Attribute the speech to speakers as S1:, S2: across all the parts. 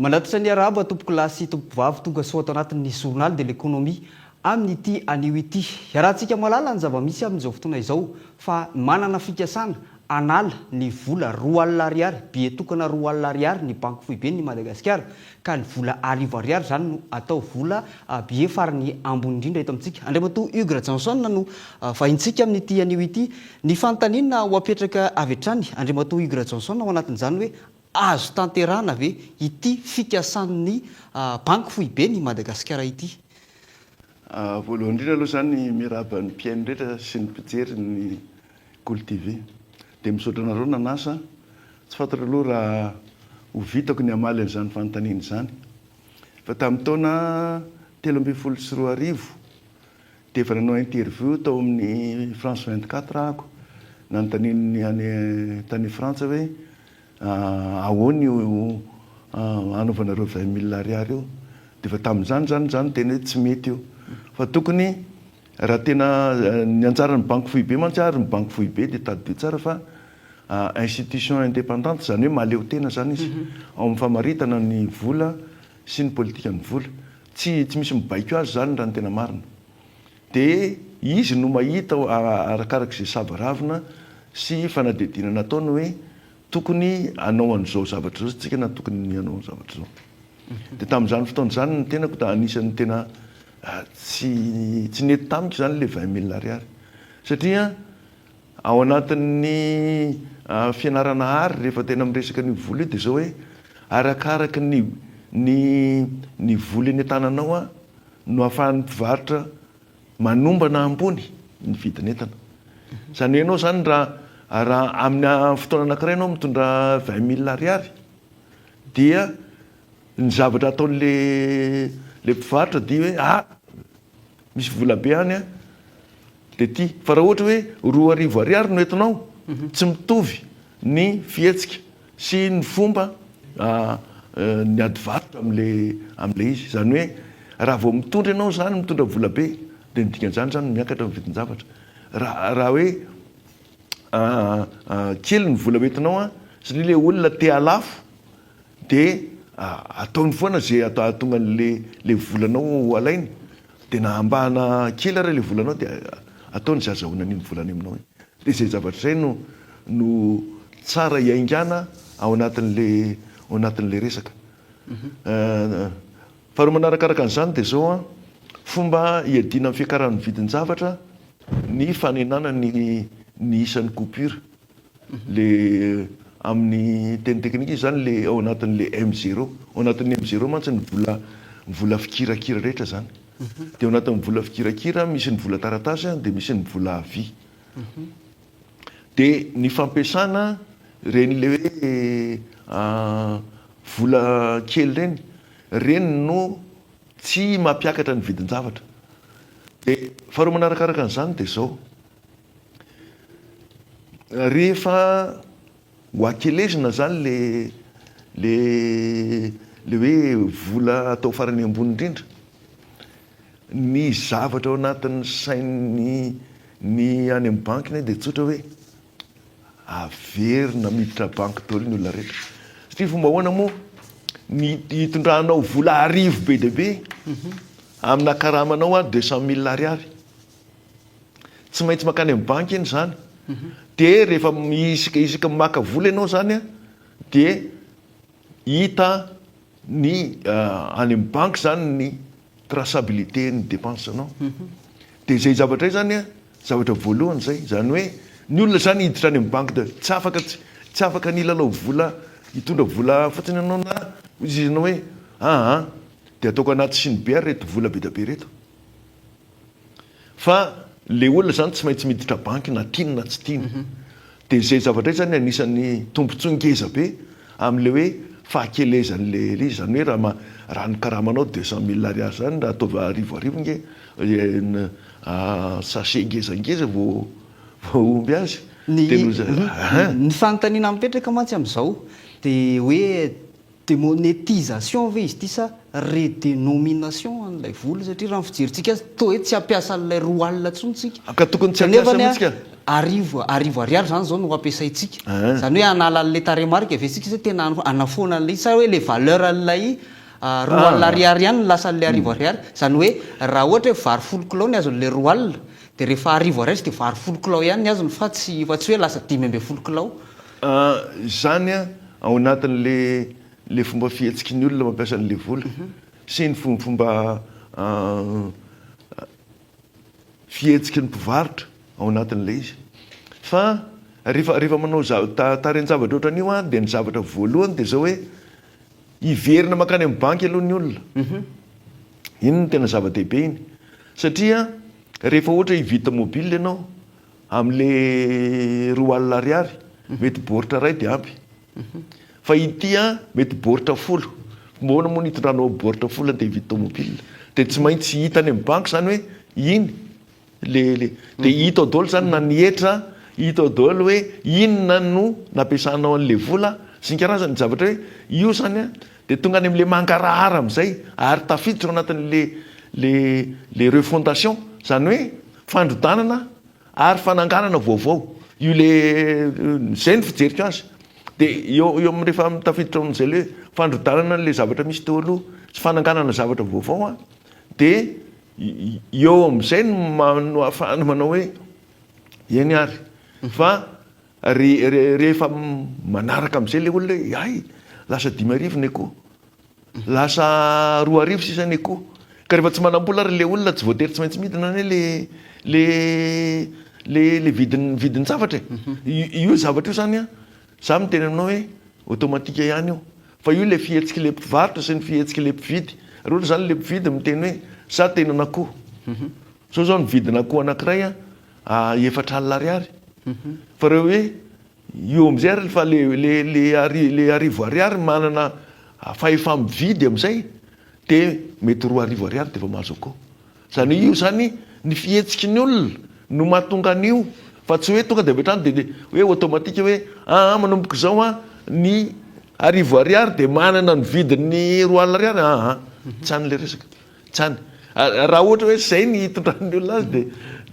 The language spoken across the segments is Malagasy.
S1: Manatitra ny arahaba tompokolahy sy tompokovavy tonga soa ato anatin'ny Journal de l'Economie amin'ity anio ity. Iarahantsika mahalala ny zava-misy amin'izao fotoana izao fa manana fikasana Anala ny vola roa alina ariary, billet tokana roa alina ariary ny banky foiben' i Madagasikara ka ny vola arivo ariary izany no atao vola billet farany ambony indrindra eto amintsika. Andriamatoa Hugues Rajaonson no vahintsika amin' ity anio ity. Ny fanontaniana ho apetraka avy hatrany, Andriamatoa Hugues Rajaonson, ao anatin' izany hoe azo tanterahana ve ity fikasan' ny banky foiben' i Madagasikara ity?
S2: Voalohany indrindra aloha za ny mirahaba ny mpihaino rehetra sy ny mpijery ny Kolo TV. Dia misaotra anareo nanasa. Tsy fantatro aloha raha ho vitako ny hamaly an'izany fanontaniana izany. Fa tamin'ny taona telo ambin'ny folo sy roa arivo dia efa nanao interview tao amin'ny France 24 aho. Nanontanian'ny any tany Frantsa hoe Ahoana io anaovanareo vingt mille ariary io? Dia efa tamin'izany izany izany no teny hoe tsy mety io. Fa tokony raha tena ny anjaran'ny banky foibe mantsy ary ny banky foibe dia tadidio tsara fa institution independante izany hoe mahaleotena izany izy ao amin'ny famaritana ny vola sy ny politikan'ny vola. Tsy tsy misy mibaiko azy izany raha ny tena marina. Dia izy no mahita arakaraka izay sava ravina sy fanadihadiana nataony hoe tokony hanao an'izao zavatra izao isika na tokony ny hanao zavatra izao. Dia tamin'izany fotoana izany ny tenako dia anisan'ny tena tsy tsy nety tamiko izany ilay vingt mille ariary. Satria ao anatin'ny fianarana art rehefa tena miresaka an'io vola io dia izao hoe arakaraka ny ny ny vola eny an-tananao no ahafahan'ny mpivarotra manombana ambony ny vidin'entana. Izany hoe ianao izany raha raha amina fotoana anankiray ianao mitondra vingt mille ariary dia ny zavatra ataon'le le mpivarotra dia hoe ah misy volabe any a! dia ty fa raha ohatra hoe roa arivo ariary no entinao tsy mitovy ny fihetsika sy ny fomba niady varotra amle amle izy izany hoe raha vao mitondra ianao izany mitondra vola be dia ny dikan'izany izany miakatra ny vidin-javatra raha raha hoe kely ny vola hoentinao an satria le olona te halafo Dia ataony foana izay hahatonga an'ilay volanao ho alainy. Dia na ambahana kely ary ilay volanao dia ataony izay azahoany an'iny vola any aminao iny. Dia izay zavatra izay no no tsara hiaingàna ao anatin'ilay ao anatin'ilay resaka. Faharoa manarakaraka an'izany dia izao an, fomba hiadiana amin'ny fiakaran'ny vidin-javatra ny fanenàna ny ny isan'ny coupure. Le amin'ny teny teknika izy zany le ao anatin'le M zero. Ao anatin'ny M zero mantsy ny vola ny vola fikirakira rehetra zany. De ao anatin'ny vola fikirakira misy ny vola taratasy a, de misy ny vola à vie. De ny fampiasana reny le hoe vola kely reny, reny no tsy mampiakatra ny vidin-javatra. De faharoa manarakaraka an'zany de zao, Rehefa ho akelezina zany le le le hoe vola atao farany ambony indrindra, ny zavatra ao anatin'ny sain'ny ny any amin'ny banky anie dia tsotra hoe averina miditra banky daholo ny olona rehetra satria fomba ahoana moa? Ny hitondranao vola arivo be dia be amina karamanao ary deux cent mille ariary. Tsy maintsy mankany amin'ny banky anie izany. Dia rehefa isika isika maka vola ianao izany an, dia hita ny ah, any amin'ny banky izany ny traçabilité-n'ny dépense-nao. Dia izay zavatra izay izany an, zavatra voalohany izay. Izany hoe ny olona izany hiditra any amin'ny banky dia tsy afaka tsy tsy afaka ny hilalao vola, hitondra vola fotsiny ianao na hoy izy ianao hoe, aa dia ataoko anaty sinibe ary ireto vola be dia be ireto. Fa le olona zany tsy maintsy miditra banky na tiany na tsy tiany. De zay zavatra zay zany anisan'ny tombotsoa ngeza be amle hoe fahakelezanle izy zany hoe raha raha ny karamanao deux cent mille ariary zany raha ataovy arivo arivo nge sachet ngeza ngeza vo vo omby azy de noho zay
S1: ny fanontaniana mipetraka mantsy amzao de hoe Demonétisation ve izy ity sa redenomination an'ilay vola satria raha ny fijerintsika azy toa hoe tsy hampiasa an'ilay roa alina intsony isika. Ka tokony tsy hampiasa Kanefany
S2: mihitsy ka. arivo arivo
S1: ariary izany izao no hampiasaintsika. Ahh. Izany hoe hanala an'ilay tarehimarika ve isika sa tena hanafoana an'ilay izy sa hoe ilay valeur an'ilay roa alina Ahh. ariary ihany no lasan'ilay arivo ariary? Izany hoe raha ohatra hoe vary folo kilao ny azon'ilay roa alina dia rehefa arivo ariary izy dia vary folo kilao ihany ny azony fa tsy fa tsy hoe lasa dimy ambin'ny folo kilao. Ah
S2: izany an ao anatiny le le fomba fihetsiky ny olona mampiasa anle vola sy ny fomba fomba ah fihetsiky ny mpivarotra ao anatiny le izy fa refa refa manao zava ta tarehin-javatra otran'io an de ny zavatra voalohany de zao hoe hiverina makany amin'ny banky aloha ny olona iny no tena zava-dehibe iny satria refa ohatra hivita mobile ianao Amle roa alina ariary mety boritra ray de ampy fa ity an mety boritra folo moana moa ny itondranao boritra folo de hividy tomobile de tsy maintsy hita any am banky zany hoe iny le le de hitao daholo zany na ny hetra hitao daholo hoe inona no nampiasanao anle vola sy ny karazany zavatra hoe io zany an Dia tonga any amin'ilay mangarahara amin'izay ary tafiditra ao anatin'ilay ilay refondation, izany hoe fandrodanana ary fananganana vaovao. Io ilay izay no fijeriko azy. Dia eo eo amin'ny rehefa tafiditra ao amin'izay ilay hoe fandrodanana an'ilay zavatra misy teo aloha sy fananganana zavatra vaovao dia eo amin'izay no no ahafahana manao hoe eny ary fa Ary rehefa manaraka amin'izay ilay olona hoe hay, lasa dimy arivo ny akoho, lasa roa arivo sisa ny akoho. Ka rehefa tsy manam-bola ary ilay olona tsy voatery tsy maintsy midina anie le le le le vidin'ny vidin'ny zavatra e. Mhm. Io zavatra io zany a, za miteny aminao hoe automatique ihany io. Fa io le fihetsik'ilay mpivarotra sy ny fihetsik'ilay mpividy. Ary ohatra zany le mpividy miteny hoe za te hinana akoho. Mhm. Zao zao ny vidin'akoho anankiray a, efatra alina ariary fa reo hoe io amizay ary fa le le le ari le arivo ariary manana fahefamividy amizay de mety roa arivo ariary defa mahazo akao zany hoe io zany ny fihetsiky ny olona no mahatonga an'io fa tsy hoe tonga de avy hatrany de de hoe automatique hoe aa manomboka izao an ny arivo ariary de manana ny vidin'ny roa alina ariary aa tsy any le resaka Zany. Raha ohatra hoe zay ny hitondran'ny olona azy dia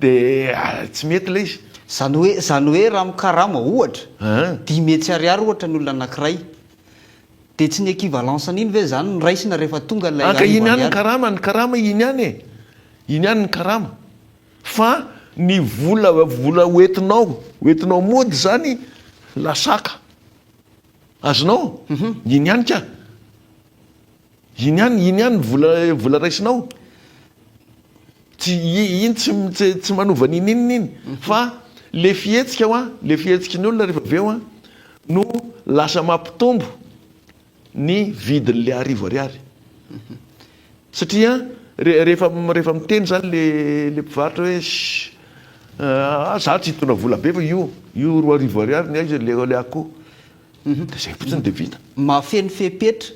S2: dia tsy mety ilay izy. Zany hoe zany hoe
S1: raha mikarama ohatra dimy hetsy ariary ohatra ny olona anankiray dia tsy ny equivalence an'iny ve zany no raisina rehefa tonga ilay arivo ariary? Iny ihany ny karama,
S2: ny karama iny ihany e! Iny ihany ny karama. Fa ny vola vola ho entinao ho entinao mody zany lasaka azonao? Iny ihany ka. Iny ihany, iny ihany vola vola raisinao. Tsy iny tsy tsy manova an'iny inona iny. Fa le fihetsika hoa, le fihetsiky ny olona rehefa avy eo an, no lasa mampitombo ny vidin'le arivo ariary. Satria re rehefa rehefa miteny zany le le mpivarotra hoe ssy ah za tsy hitondra vola be fa io io roa arivo ariary ny ahy le le akoho. De zay fotsiny de vita. Mahafeno fepetra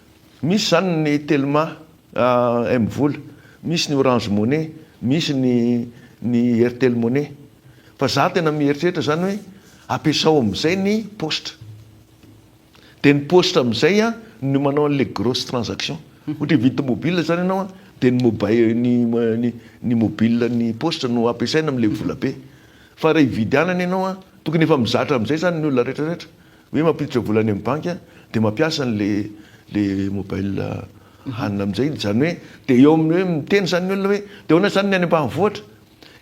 S2: Misy izany ny Telma, M-vola, misy ny Orange Money, misy ny ny Airtel Money. Fa za tena mieritreritra izany hoe ampiasao amin'izay ny paositra. Dia ny paositra amin'izay no manao an'ilay grosse transaction. Ohatra hividy tomobile izany ianao dia ny mobile ny ny ny mobile ny paositra no ampiasaina amin'ilay vola be. Fa raha hividy anana ianao tokony efa mizatra amin'izay izany ny olona rehetra rehetra. Hoe mampiditra vola any amin'ny banky a, dia mampiasa an'le le mobile hanina amin'izay izy. Izany hoe dia eo amin'ny hoe miteny izany ny olona hoe dia ahoana izany ny any ambanivohitra?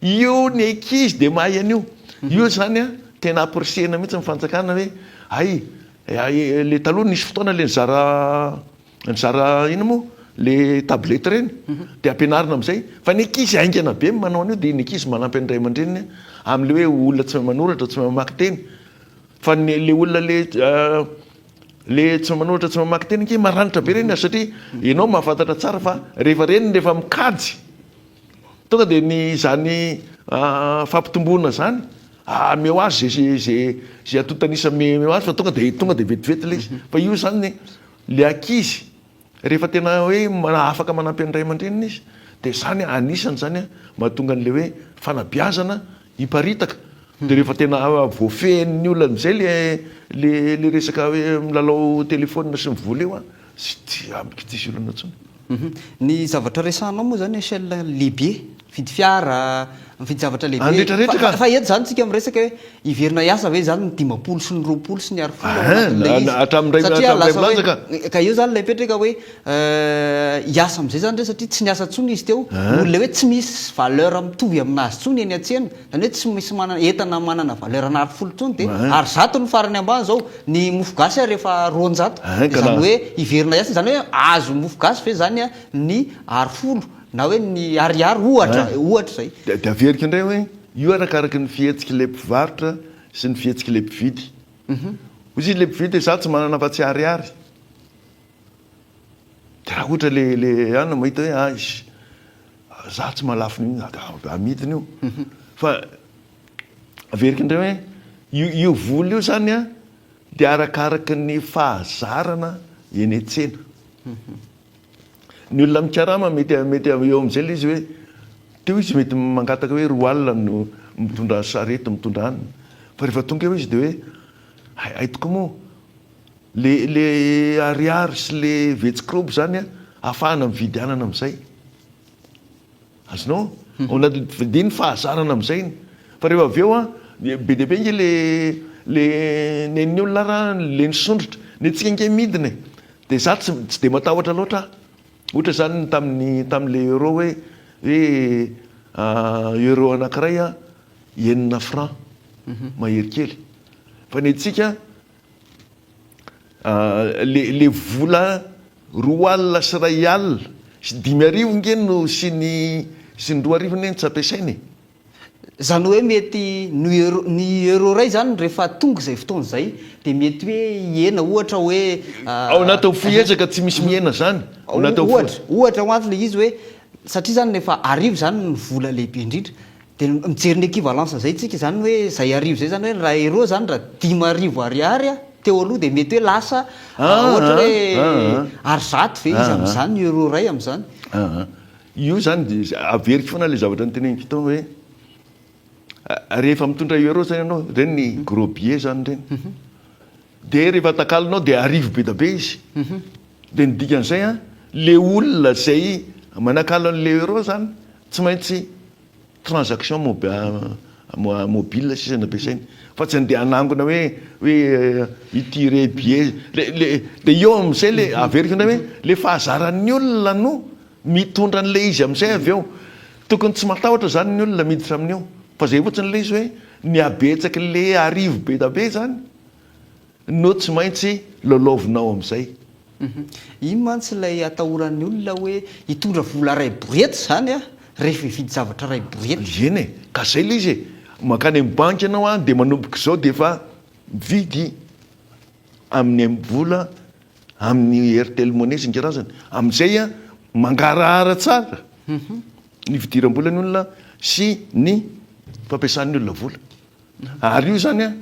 S2: Io ny ankizy dia mahay an'io. Io izany a, tena apprecier-na mihitsy ny fanjakana hoe hay, le taloha nisy fotoana le nizara nizara inona moa? le tablette ireny, dia ampianarina amin'izay. Fa ny ankizy haingana be ny manao an'io, dia ny ankizy manampy ny ray aman-dreniny amin'le hoe olona tsy mahay manoratra, tsy mahay mamaky teny. Fa ny le olona le le tsy manoratra tsy mamaky teny ange maranitra be reny satria enao mahafantatra tsara fa rehefa reny rehefa mikajy tonga de ny zany fampitomboana zany ameo azy ze ze ze antontanisa ameo azy fa tonga de tonga de vetivety le izy fa io zany le ankizy Rehefa tena hoe afaka manampy an'ny ray aman-dreniny izy dia izany anisany izany mahatonga an'ilay hoe fanabeazana hiparitaka. Dia rehefa tena voafehin'ny olona amin'izay ilay ilay resaka hoe milalao telefaonina sy mivola io an, tsy amiko tsy hisy olana intsony. Ny
S1: zavatra resahanao moa izany Echelle Libye Mividy fiara, mividy zavatra lehibe. Any rehetra rehetra ka. Fa eto izany tsika miresaka hoe hiverina hiasa ve izany ny dimampolo sy ny roapolo sy ny arifolo ao anatin'ilay izy. Hatramin'ny iray hatramin'ny iray volana ka. Ka eo izany ilay mipetraka hoe hiasa amin'izay izany re satria tsy niasa intsony izy teo. Noho ilay hoe tsy misy valeur mitovy amin'azy intsony eny an-tsena. Izany hoe tsy misy manana entana manana valeur ana arifolo intsony dia ary zato ny farany ambany izao. Ny mofo gasy ary efa roanjato. Izany hoe hiverina hiasa izany hoe azo mofo gasy ve izany ny arifolo. Na hoe ny ariary ohatra, ohatra izay. Dia averiko indray hoe
S2: io arakaraka ny fihetsik'ilay mpivarotra sy ny fihetsik'ilay mpividy. Hoy ilay mpividy hoe za tsy manana afa-tsy ariary. Dia raha ohatra ilay ilay anona mahita hoe aish, za tsy mahalafo an'io na dia amidiny io. Fa averiko indray hoe io io vola io izany an dia arakaraka ny fahazarana eny an-tsena. Ny olona mikarama mety mety eo amin'izay ilay izy hoe teo izy mety mangataka hoe roa alina no mitondra sarety mitondra any fa rehefa tonga eo izy dia hoe hay hay tokoa moa le le ariary sy le vetsikrobo zany ahafahana mividy anana amin'izay Azonao onona dia ny fahazarana amin'izay fa rehefa avy eo an, be dia be ange le le nen'ny olona ara le nisondrotra, ny antsika ange midina e! dia za tsy tsy dia matahotra loatra aho, ohatra izany ny tamin'ny tamin'ilay euro hoe hoe euro anankiray an enina francs mahery kely, fa ny antsika Le vola roa alina sy iray alina sy dimy arivo nge no sy ny sy ny roa arivo anie no tsy ampiasaina e! Zany
S1: hoe mety ny euro ny euro iray zany rehefa tonga izay fotoana izay dia mety hoe hihena ohatra hoe Ao anatin'ny fohy
S2: ezaka tsy misy mihena zany ao anatin'ny fohy. Ohatra
S1: ho ahy le izy hoe satria zany efa arivo zany ny vola lehibe indrindra Dia mijery ny equivalence izay tsika izany ny hoe izay arivo izay izany hoe raha euro izany raha dimy arivo ariary teo aloha dia mety hoe lasa ohatra hoe ary zato ve izy amin'izany ny euro iray amin'izany. Io
S2: izany dia averiko foana ilay zavatra noteneniko tao hoe rehefa mitondra euro izany ianao, ireny ny gros billets izany ireny, Dia rehefa takalonao dia arivo be da be izy. Dia ny dikan'izay an, le olona izay manakalo an'ilay euro zany tsy maintsy transaction mobile sisa no ampiasainy. Fa tsy andeha hanangona hoe hoe hitiré billet. Le le dia eo amin'izay le averiko indray hoe le fahazaran'ny olona no mitondra an'ilay izy amin'izay avy eo. Tokony tsy matahotra zany ny olona miditra amin'io. Fa izay fotsiny le izy hoe ny habetsaky le arivo be da be zany. no tsy maintsy lalaovinao amin'izay. Iny
S1: mantsy ilay atahoran'ny olona hoe hitondra vola iray borety izany aho rehefa hividy zavatra iray borety. Eny e, ka izay ilay
S2: izy e, mankany amin'ny banky ianao dia manomboka izao dia efa mividy amin'ny mvola, amin'ny Airtel Money isan-karazany. Amin'izay mangarahara tsara ny fidiram-bola ny olona sy ny fampiasan'ny olona vola. Ary io zany an,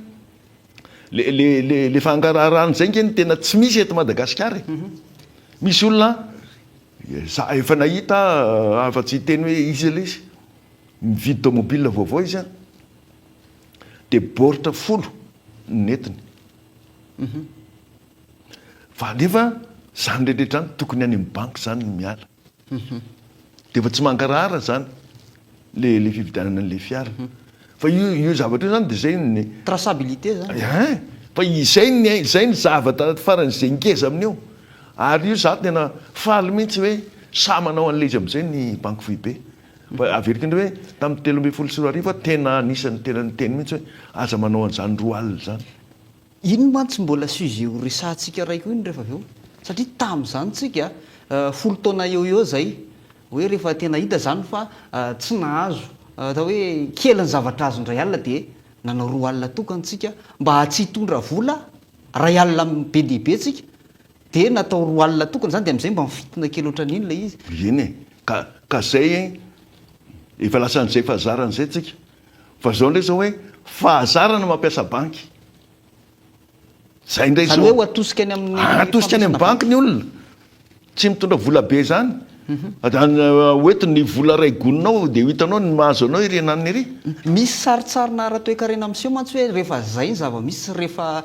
S2: le le le le fangaraharahana izay nge no tena tsy misy eto Madagasikara e! Misy olona an, za efa nahita afa tsy hiteny hoe iza ilay izy, mividy tomobile vaovao izy an, dia baoritra folo no nentiny, fa nefa izany rehetra rehetra izany tokony any amin'ny banky izany no miala. Dia efa tsy mangarahara izany le le fividianana an'ilay fiara. Fa io io zavatra io izany dia izay ny. Traçabilité izany.
S1: Ein! Fa izay
S2: ny ain, izay ny zavatra faran'izay ngeza amin'io. Ary io izaho tena faly mihitsy hoe sahy manao an'ilay izy amin'izay ny Banky Foibe. Fa averiko indray hoe tamin'ny telo ambin'ny folo sy roa arivo aho tena anisan'ny tena niteny mihitsy hoe aza manao an'izany roa alina izany. Iny mantsy
S1: mbola sujet ho resahantsika raiko iny rehefa avy eo. Satria tamin'izany tsika, folo taona eo ho eo izay, hoe rehefa tena hita izany fa tsy nahazo, atao hoe kely ny zavatra azo indray alina dia nanao roa alina tokana tsika mba tsy hitondra vola iray alina be dia be tsika dia natao roa alina tokana izany dia amin'izay mba mifintina kely ohatran'iny ilay izy. Eny e,
S2: ka izay efa lasan'izay fa zaran'izay tsika. Fa zao ndray zao hoe fahazarana mampiasa banky. Zay ndray zao. Zany hoe ho atosika any amin'ny
S1: fampiasana banky. Atosika any amin'ny banky ny
S2: olona. Tsy mitondra vola be zany. Mhm. Hoeto ny vola ray goninao dia ho hitanao ny mahazo anao iry ananiny iry. Misy sarintsarina
S1: ara-toekarena miseho mantsy hoe rehefa zay ny zava-misy sy rehefa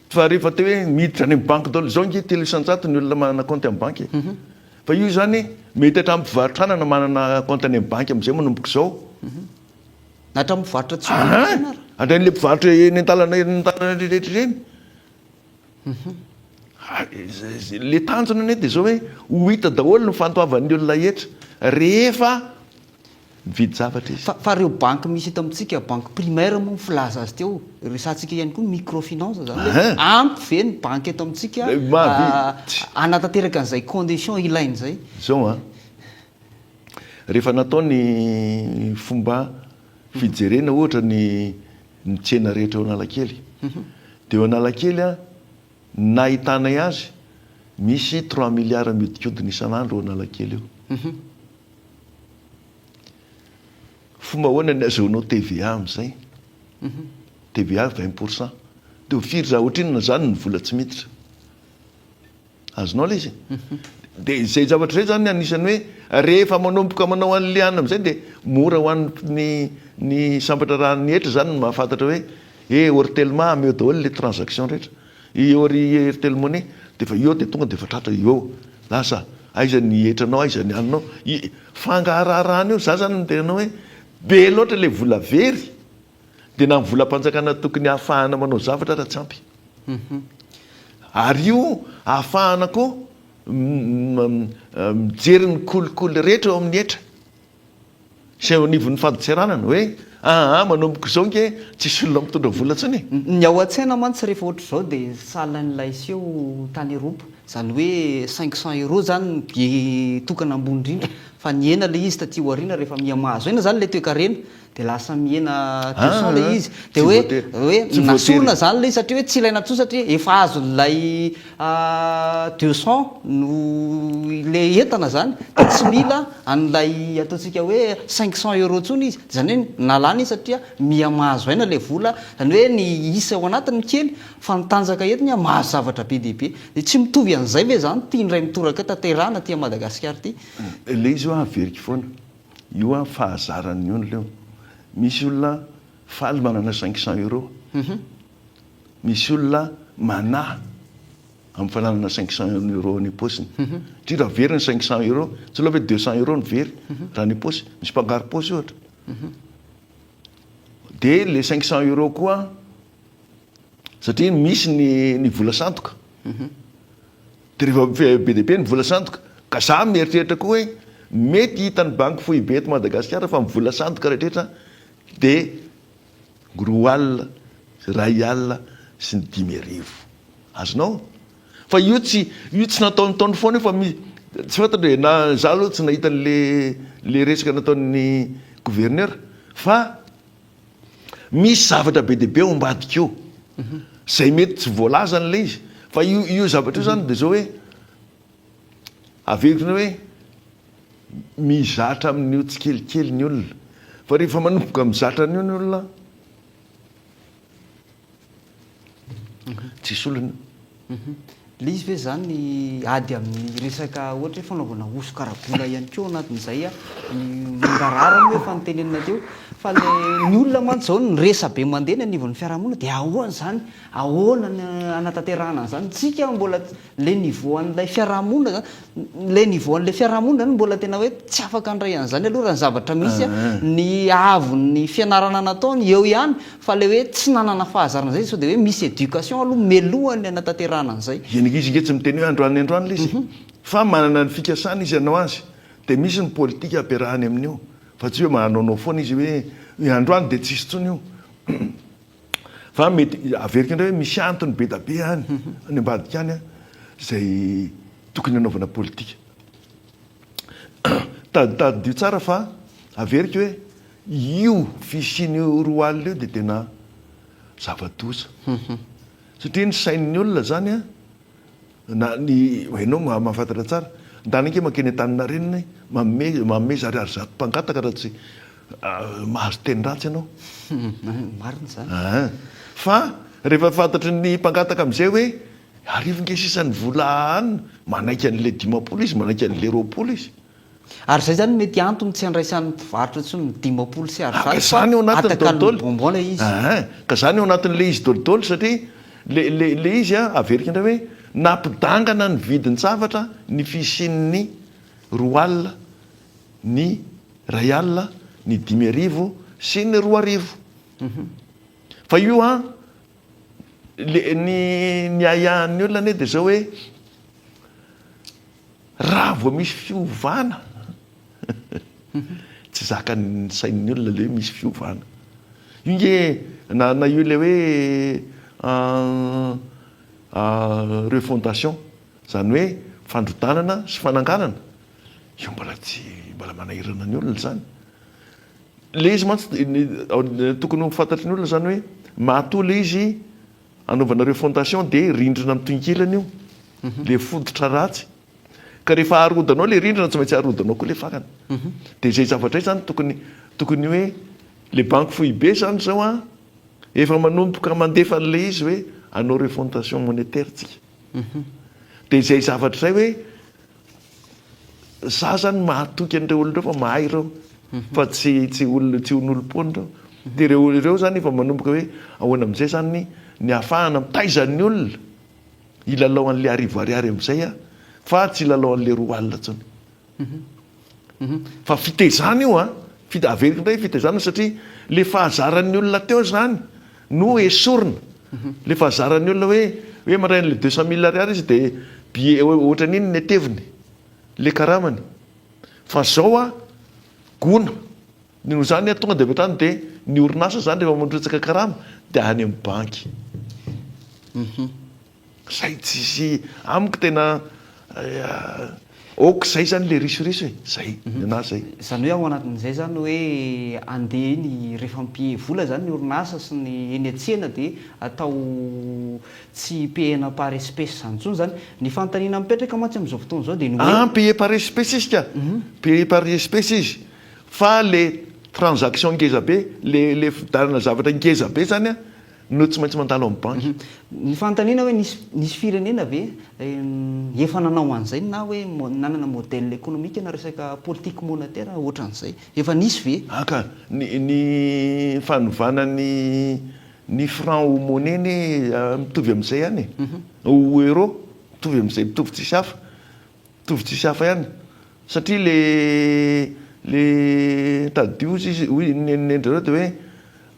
S2: Fa rehefa te hoe miditra any amin'ny banky daholo izao ange telo isan-jato ny olona manana kaonty amin'ny banky e. Fa io izany mety hatramin'ny mpivarotra anana manana kaonty any amin'ny banky amin'izay manomboka izao.
S1: Na hatramin'ny mpivarotra tsy ho banky ianao ary. Hatramin'ilay
S2: mpivarotra eny an-dalana eny an-dalana rehetra ireny. Ilay tanjona anie dia izao hoe ho hita daholo ny fandoavan'ny olona hetra rehefa Mividy zavatra izy. Fa ireo banky misy eto
S1: amintsika, banky primaire moa filaza azy teo, resahantsika ihany koa ny microfinance zany hoe ampy ve ny banky eto amintsika hanatanteraka an'izay condition ilainy izay? Izao an,
S2: rehefa natao ny fomba fijerena ohatra ny ny tsena rehetra eo Analakely dia eo Analakely an, ny nahitanay azy misy trois milliards miodikodina isan'andro eo Analakely eo. Fomba ahoana ny azahoanao TVA amin'izay? TVA vingt pour cent. Dia ho firy za ohatrinona izany ny vola tsy miditra? Azonao ilay izy? Dia izay zavatra izay izany anisan'ny hoe rehefa manomboka manao an'i Liana amin'izay dia mora ho an'ny ny sambatra raha ny hetra izany no mahafantatra hoe eh Ortelma hameo daholo ilay transaction rehetra. Eo ry Airtel Money dia efa eo dia tonga dia efa tratra eo lasa aiza ny hetranao aiza ny anona i fangaharaharahana io za zany dia anao hoe be loatra le vola very dia na ny volam-panjakana tokony hahafahana manao zavatra ary tsy ampy ary io hahafahana koa mijery ny kolikoly rehetra eo amin'ny hetra. izay eo anivon'ny fadintseranana hoe aa manomboka izao nge tsisy olona mitondra vola intsony e! Ny ao an-tsaina
S1: mantsy rehefa ohatr'izao dia sahalan'ilay seho tany Eropa, izany hoe cinq cents euros izany no billet tokana ambony indrindra, fa nihena ilay izy taty aoriana rehefa miha-mahazo aina izany ilay toekarena, Dia lasa mihena tout son ilay izy. Dia hoe, hoe nasorina izany ilay izy satria hoe tsy ilaina intsony satria efa azon'ilay deux son no ilay entana izany. Dia tsy mila an'ilay ataontsika hoe cinq cents euros intsony izy. Izany hoe nalana izy satria miha mahazo aina ilay vola. Izany hoe ny isa ao anatiny no kely fa ny tanjaka eto ny hoe mahazo zavatra be dia be. Dia tsy mitovy an'izay ve izany ity indray mitoraka tanterahina aty Madagasikara ity? Ilay izy hoe
S2: averiko foana. Io an fahazarany io ny leo. Misy olona faly manana cinq cents euro. Misy olona manahy amin'ny fananana cinq cents euro any am-paosiny. Satria raha very ny cinq cents euro, tsy aleo ve deux cents euro no very raha any am-paosy? Misy mpangaro-paosy ohatra. Dia ilay cinq cents euro koa. Satria misy ny ny vola sandoka. Dia rehefa be dia be ny vola sandoka, ka za mieritreritra koa hoe mety hitan'ny banky foibe eto Madagasikara fa ny vola sandoka rehetra dia roa alina, iray alina sy ny dimy arivo. Azonao? Fa io tsy io tsy nataon'taony foana io fa mi tsy fantatra e na za aloha tsy nahita an'le le resaka nataon'ny gouverneur fa. Misy zavatra be dia be ao ambadika io, izay mety tsy voalazan'ilay izy. Fa io io zavatra io izany dia izao hoe, averiko ny hoe mizatra amin'io tsikelikely ny olona. Fa rehefa manomboka mizatra an'io ny olona, tsisy olana.
S1: Ilay izy ve zany ny ady amin'ny resaka ohatra hoe fanaovana hosoka ara-bola ihany koa ao anatin'izay ny mangarahara moa efa notenenina teo fa ilay ny olona mantsy izao ny resabe mandeha ny anivon'ny fiarahamonina dia ahoana izany? Ahoana ny hanatanterahana an'izany? Tsika mbola Ilay niveau an'ilay fiarahamonina zany, ilay niveau an'ilay fiarahamonina zany mbola tena hoe tsy afaka handray an'izany aloha raha ny zavatra misy an, ny haavon'ny fianarana nataony eo ihany fa ilay hoe tsy nanana fahazarana izay izy sao dia hoe misy éducation aloha mialohan'ny hanatanterahana an'izay. Dia ny izy ange tsy miteny hoe
S2: androany androany ilay izy fa manana ny fikasany izy hanao azy dia misy ny politika ampiarahany amin'io fa tsy hoe manaonao foana izy hoe hoe androany dia tsisy intsony io. Fa mety averiko indray hoe misy antony be dia be any, any ambadika any izay tokony hanaovana politika. Tadidio tsara fa averiko hoe io fisian'io roa alina io dia tena zava-doza. Satria ny sain'ny olona izany Na ny hainao mahafantatra tsara. Ndana ange mankeny Antaninarenina e! Manome manome zary ary zato mpangataka raha tsy mahazo teny ratsy ianao. Marina
S1: izany. Aa! Fa
S2: rehefa fantatry ny mpangataka amin'izay hoe arivo nge sisa ny vola an! manaiky an'ilay dimampolo izy, manaiky an'ilay roapolo izy. Ary izay izany no
S1: mety antony tsy handraisan'ny mpivarotra intsony ny dimampolo sy arizato fa izany ao anatin'ny daholodaolo.
S2: bonbon ilay izy. Aa,
S1: ka izany ao
S2: anatin'ilay izy daholodaolo satria ilay, ilay, ilay izy an, averiko indray hoe, nampidangana ny vidin-javatra ny fisian'ny roa alina, ny iray alina, ny dimy arivo sy ny roa arivo. Fa io an, Le ny ny ahiahin'ny olona anie dia zao hoe raha vao misy fiovana tsy zakan'ny sain'ny olona le hoe misy fiovana. Io nge na na io le hoe refondation zany hoe fandrodanana sy fananganana io mbola tsy mbola manahirana ny olona zany. Ilay izy mantsy dia tokony ho fantatry ny olona izany hoe mahatoa ilay izy anaovanareo fondation dia rindrina amin'ny tohinkilany io, ilay fototra ratsy. Ka rehefa harodonao ilay rindrina tsy maintsy harodonao koa ilay fakana. Dia izay zavatra izay izany tokony tokony hoe ilay banky foibe izany izao an, efa manomboka mandefa an'ilay izy hoe anao refondation monetaire tsika. Dia izay zavatra izay hoe Za zany mahatoky an'ireo olona ireo fa mahay ireo fa tsy tsy olona tsy onolom-poana ireo. Dia ireo olona ireo zany efa manomboka hoe ahoana amin'izay zany ny ahafahana mitaiza ny olona hilalao an'ilay arivo ariary amin'izay aho fa tsy hilalao an'ilay roa alina intsony. Fa fitaizana io an, averiko indray fitaizana satria ilay fahazaran'ny olona teo izany. no esorina le fa zaran'ny olona hoe hoe mandray an'le deux cent mille ariary izy de billet ohatrany iny ny ateviny le karamany fa zao a gona ny noho zany a tonga de avy hatrany de ny orinasa zany rehefa mandrotsaka karama de any amin'ny banky. Zay tsisy amiko tena ok zay zany le risoriso e zay nenah zay. Zany hoe ao anatin'izay
S1: zany hoe andeha eny rehefa mpihehy vola zany ny orinasa sy ny eny an-tsena de atao tsy pihena par espèce zany tsony zany. Ny fanontaniana mipetraka mantsy amin'izao fotoana izao de ny hoe. Ah pihena par espèce izy ka!
S2: Pihena par espèce izy fa le transaction ngeza be le le fividianana zavatra ngeza be zany an! No tsy maintsy mandalo amin'ny banky. Ny fanontaniana
S1: hoe nisy nisy firenena ve efa nanao an'izay na hoe nanana modèle économique na resaka politique monétaire ohatran'izay? Efa nisy ve? Aka, ny
S2: ny fanovana ny ny franc ho monnaie anie mitovy amin'izay ihany e. Ho euro mitovy amin'izay, mitovy tsisy hafa. Mitovy tsisy hafa ihany. Satria le le tadidio hoy ny nen'i nen'i dry zareo dia hoe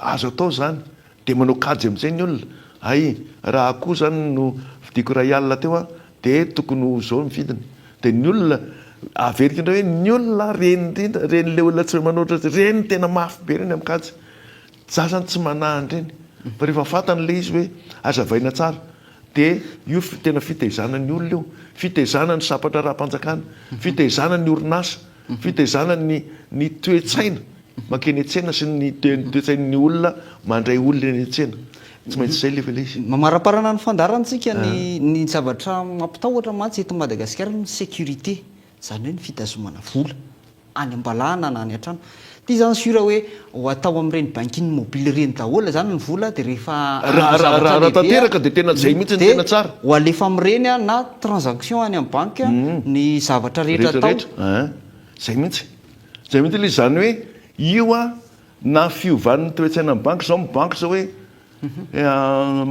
S2: Azo atao izany, dia manao kajy amin'izay ny olona, hay raha akoho izany no vidiako iray alina teo an, dia tokony ho izao ny vidiny, dia ny olona averiko indray hoe ny olona reny indrindra, reny ilay olona tsy manoatra azy ireny tena mafy be ireny amin'ny kajy, za izany tsy manahy an'ireny fa rehefa fantany ilay izy hoe azavaina tsara dia io tena fitaizana ny olona io, fitaizana ny sabatra ara-panjakana, fitaizana ny orinasa. ny fitaizana ny ny toe-tsaina mankeny an-tsena sy ny toe-tsain'ny olona mandray olona eny an-tsena. Tsy maintsy izay ilay ilay izy. Mamariparana ny
S1: fandaharantsika ny ny zavatra mampitahotra mantsy eto Madagasikara ny sécurité, izany hoe ny fitazomana vola any am-balahana na any an-trano. Ty zany sur hoe ho atao amin'ireny bankin mobile ireny daholo zany ny vola dia rehefa hanao zavatra lehibe raha
S2: tanteraka dia tena zay mihitsy no tena tsara dia ho alefa amin'ireny
S1: na transaction any amin'ny banky ny zavatra rehetra atao rehetra rehetra zay mihitsy
S2: zay mihitsy ilay izy zany hoe io a na fiovan'ny toe-tsaina ny banky zao mibanky zao hoe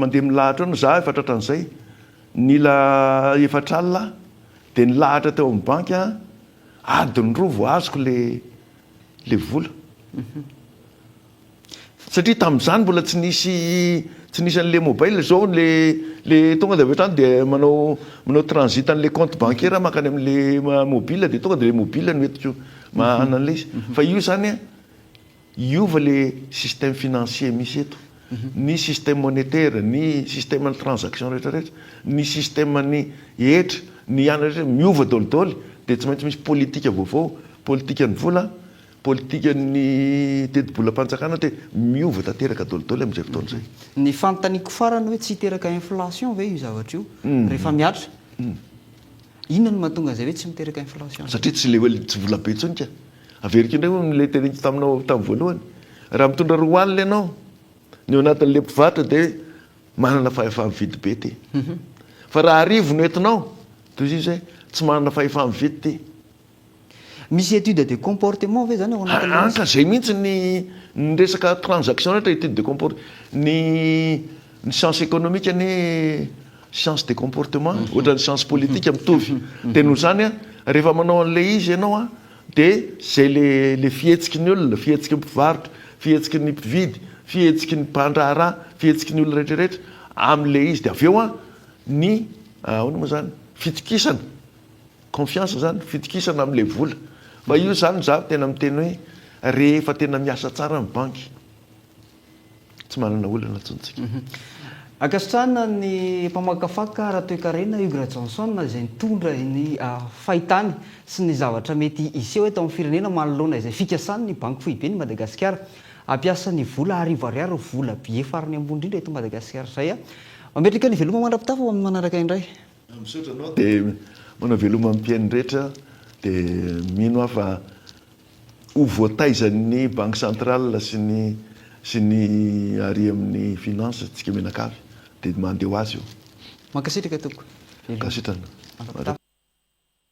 S2: mandeha milahatra eo no za efa tratran'izay nila efatra alina aho dia nilahatra teo amin'ny banky adiny roa vao azoko ilay le vola satria tamin'izany mbola tsy nisy tsy nisy an'le mobile zao le le tonga de avy hatrany de manao manao transit an'le compte bancaire mankany am'le mobile de tonga de le mobile no entiko manana an'le izy fa io zany hiova le système financier misy eto ny système monétaire, ny système ny transaction rehetra rehetra, ny système ny hetra, ny ihany rehetra miova daholo daholo dia tsy maintsy misy politika vaovao, politika ny vola, politika ny tetibolam-panjakana dia miova tanteraka daholo daholo amin'izay fotoana izay. Ny fanontaniako
S1: farany hoe tsy hiteraka inflation ve io zavatra io rehefa mihatra? Inona no mahatonga izay hoe tsy miteraka inflation? Satria tsy le hoe tsy
S2: vola be intsony ka. Averiko indray hono le teneniko taminao tamin'ny voalohany. Raha mitondra roa alina ianao, ny ao anatin'le mpivarotra dia manana fahefa-mividy be ty. Fa raha arivo no entinao, tohizo hoe tsy manana fahefa-mividy ty.
S1: Misy étude de comportement ve zany ao anatin'ilay resaka? Araka izay mihitsy ny
S2: ny resaka transaction rehetra étude de comport ny ny science économique anie science de comportement ohatran'ny science politique mitovy dia noho izany a rehefa manao an'ilay izy ianao a dia izay le le fihetsiky ny olona fihetsiky ny mpivarotra fihetsiky ny mpividy fihetsiky ny mpandraharaha fihetsiky ny olona rehetra rehetra amin'ilay izy dia avy eo a ny ahoana moa izany fitokisana Confiance zany fitokisana amle vola fa io zany za tena miteny hoe rehefa tena miasa tsara ny banky tsy manana olana intsony tsika. Ankasitrahana
S1: ny mpamakafaka Ratoekarena Hugues Rajohnson izay nitondra ny fahitany sy ny zavatra mety hiseho eto amin'ny firenena manoloana izay fikasany ny Banky Foiben'i Madagasikara hampiasa ny vola arivo ariary volabe farany ambony indrindra eto Madagasikara izay. Mametraka ny veloma mandra-pitafa ho amin'ny manaraka indray. Misaotra anao de
S2: manao veloma ny mpihaino rehetra de mino aho fa ho voataizan'ny banque centrale sy ny sy ny ary amin'ny finance antsika mianakavy de mande ho azy io. Mankasitraka tompoko.
S1: Veloma. Ankasitrana.